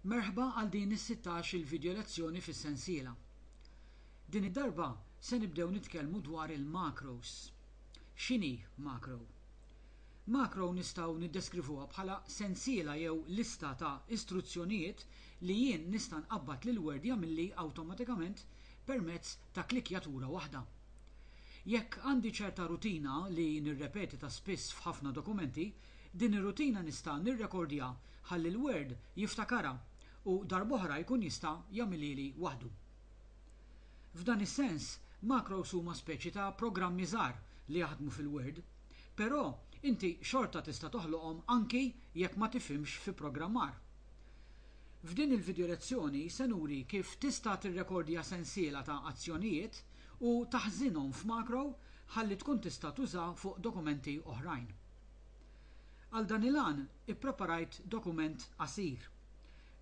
Merħba għal din is-sittax il video lezzjoni fis-sensiela. Din id-darba se nibdew nitkellmu dwar il-macros. X'inhi macro? Macro nistgħu niddeskrivuha bħala sensiela jew lista ta' istruzzjonijiet li jien nista' nqabbad lil Word jagħmilli awtomatikament permezz ta' klikkjatura waħda. Jekk għandi ċerta rutina li nirrepeti ta' spiss f'ħafna dokumenti, Din ir-rutina nista' nirrekordja ħalli l-Word jiftakarha u darb'oħra jkun jista' jagħmilhieli waħdu. F'dan is-sens, macros huma speċi ta' programmi żgħar li jaħdmu fil-Word. Però, inti xorta tista' toħloqhom anki jekk ma tifhimx fi programmar. F'din il-vidjolezzjoni se nuri kif tista' tirrekordja sensiela ta' azzjonijiet u taħżinhom f'macro ħalli tkun tista' tuża fuq dokumenti oħrajn. Għal dan il-għan ippreparajt dokument qasir.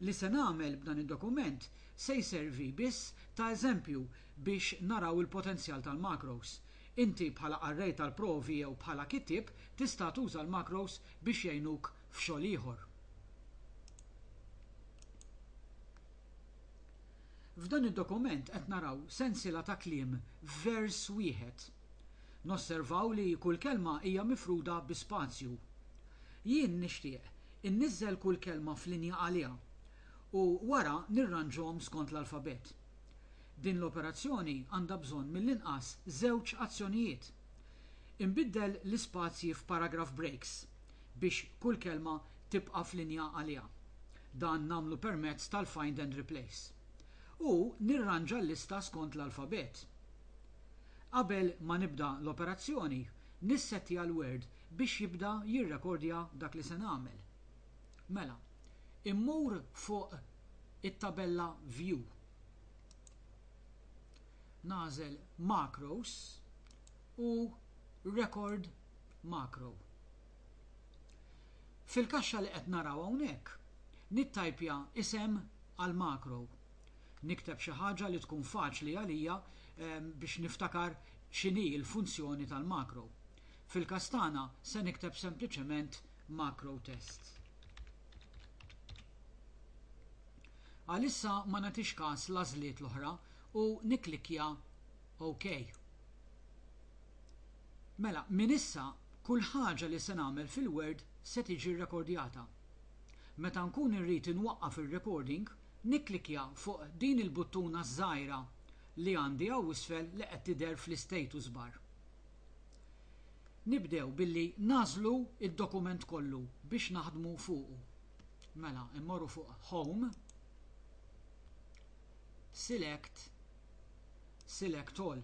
Li se nagħmel b'dan id-dokument se jservi biss ta' eżempju biex naraw il-potenzjal tal-macros. Inti bħala qarrej tal-provi jew bħala kittieb tista' tuża l-macros biex jgħinuk f'xogħol ieħor. F'dan id-dokument qed naraw sensiela ta' kliem f'vers wieħed. Nosservaw li kull kelma hija mifruda bi spazju. Jien nixtieq inniżżel kull kelma f'linja għaliha u wara nirranġhom skont l-alfabett. Din l-operazzjoni għandha bżonn mill-inqas żewġ azzjonijiet. Inbiddel l-ispazji f'paragraph breaks biex kull kelma tibqa' f'linja għaliha. Dan nagħmlu permezz tal-find and replace. U nirranġa l-lista skont l-alfabett. Qabel ma nibda l-operazzjoni, nissettja l-Word biex jibda jirrekordja dak li se nagħmel. Mela, immur fuq it-tabella View. Nagħżel Macros u Record Macro. Fil-kaxxa li qed naraw hawnhekk, nittajpja isem għall-makro Nikteb xi ħaġa li tkun faċli għalija biex niftakar x'inhi l-funzjoni tal-makro. Fil-każ tagħna se nikteb sempliċement makro test. Għalissa ma nagħtix każ l-għażliet l-oħra u nikklikkja OK. Mela, minn issa kull ħaġa li se nagħmel fil-Word se tiġi rrekordjata. Meta nkun irrid inwaqqaf ir-recording, Nikklikkja fuq din il-buttuna ż-żgħira li għandi hawn isfel li qed tidher fl-istatus bar. Nibdew billi nagħżlu d-dokument kollu biex naħdmu fuqu. Mela mmorru fuq Home, Select, Select All.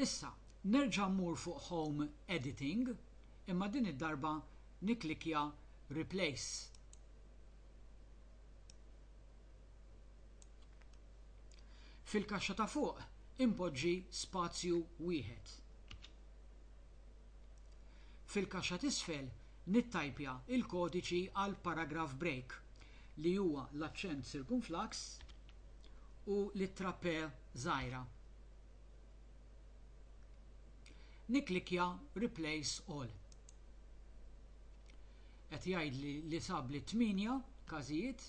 Issa nerġa' mmur fuq Home Editing imma din id-darba nikklikkja Replace. Fil-kaxxa ta' fuq inpoġġi spazju wieħed. Fil-kaxxa t'isfel nittajpja l-kodiċi għal paragraph break li huwa l-aċċent sirkumflax u l-ittra p żgħira. Nikklikkja Replace All. qed jgħidli li sabli tmienja każijiet.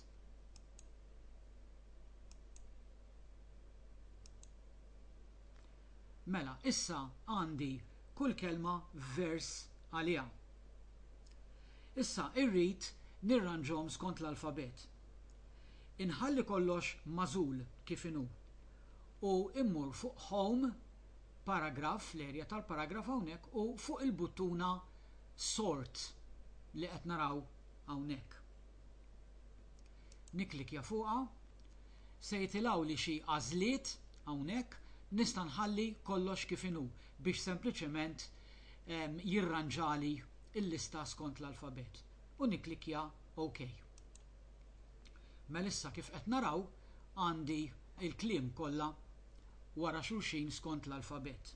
Mela, issa għandi kull kelma f'vers għaliha. Issa irrid nirranġhom skont l-alfabet. Inħalli kollox magħżul kif inhu u mmur fuq Home paragraf, fl-erja tal-paragraf hawnhekk u fuq il-buttuna Sort li qed naraw hawnhekk. Nikklikkja fuqha, se jitilgħuli xi għażliet hawnhekk, nista' nħalli kollox kif inhu biex sempliċement jirranġali l-lista skont l-alfabet u nikklikkja OK. Mela issa kif qed naraw għandi il-kliem kollha wara xulxin skont l-alfabett.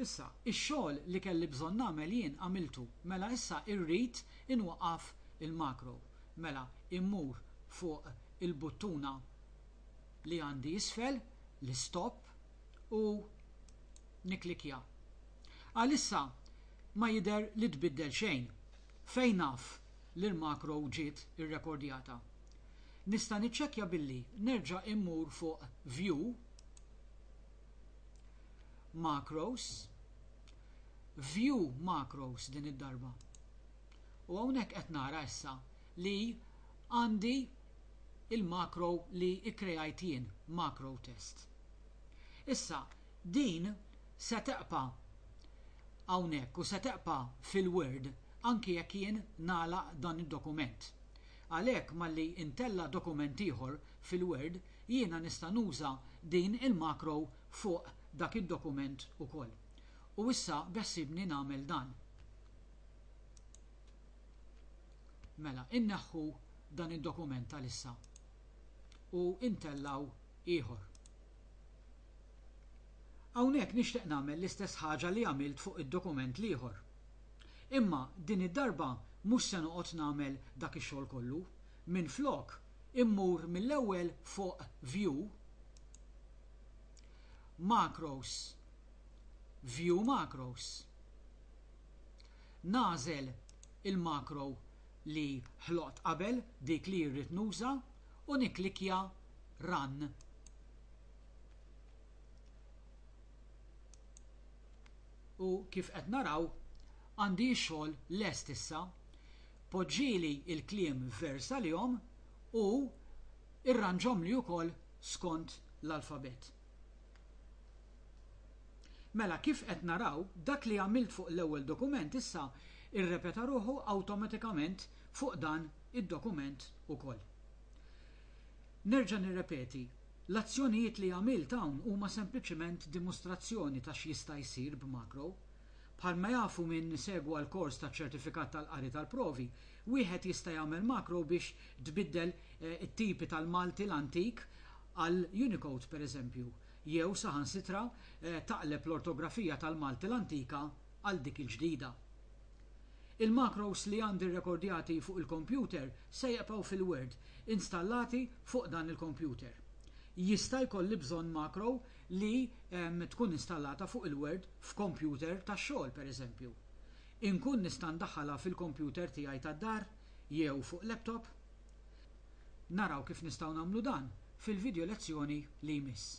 Issa, ix-xogħol li kelli bżonn nagħmel jien għamiltu, mela issa irrid inwaqqaf il-macro. Mela immur fuq il-buttuna li għandi isfel, l-istop, u nikklikkja. Għalissa ma jidher li tbiddel xejn. Fejn naf li l-makro ġiet irrekordjata. Nista' niċċekkja billi nerġa' immur fuq View, Macros, View Macros din id-darba. U hawnhekk qed nara issa li għandi l-makro li kkreajt jien, MacroTest. Issa din se tebqa' hawnhekk u se tebqa' fil-Word anki jekk jien nagħlaq dan id-dokument. Għalhekk malli ntella' dokument ieħor fil-Word, jiena nista' nuża din il-macro fuq dak id-dokument ukoll. U issa beħsiebni nagħmel dan. Mela, inneħħu dan id-dokument għalissa u ntellgħu ieħor. Hawnhekk nixtieq nagħmel l-istess ħaġa li għamilt fuq id-dokument l-ieħor. Imma din id-darba mhux se noqgħod nagħmel dak ix-xogħol kollu. Minflok, immur mill-ewwel fuq View, Macros, View Macros. Nagħżel il-macro li ħloqt qabel, dik li rrid nuża, u nikklikkja Run. U kif qed naraw, għandi x-xogħol lest issa. Poġġili l-kliem f'vers għalihom u irranġhomli wkoll skont l-alfabet. Mela, kif qed naraw, dak li għamilt fuq l-ewwel dokument issa irrepeta ruħu awtomatikament fuq dan id-dokument ukoll. Nerġa' nirrepeti, l-azzjonijiet li għamilt hawn huma sempliċement dimostrazzjoni ta' x'jista' jsir b'makro. Bħalma jafu min segwa l-kors taċ-ċertifikat tal-qari tal-provi, wieħed jista' jagħmel makro biex tbiddel it-tipi tal-Malti l-antik għal Unicode pereżempju, jew saħansitra taqleb l-ortografija tal-Malti l-antika għal dik il-ġdida. Il-macros li għandi rrekordjati fuq il-kompjuter se jibqgħu fil-wirt installati fuq dan il-kompjuter. Jista' jkolli bżonn macro li tkun installata fuq il-wirt f'kompjuter tax-xogħol, pereżempju. Inkun nista' ndaħħalha fil-kompjuter tiegħi tad-dar jew fuq laptop? Naraw kif nistgħu nagħmlu dan fil-vidjo lezzjoni li jmiss.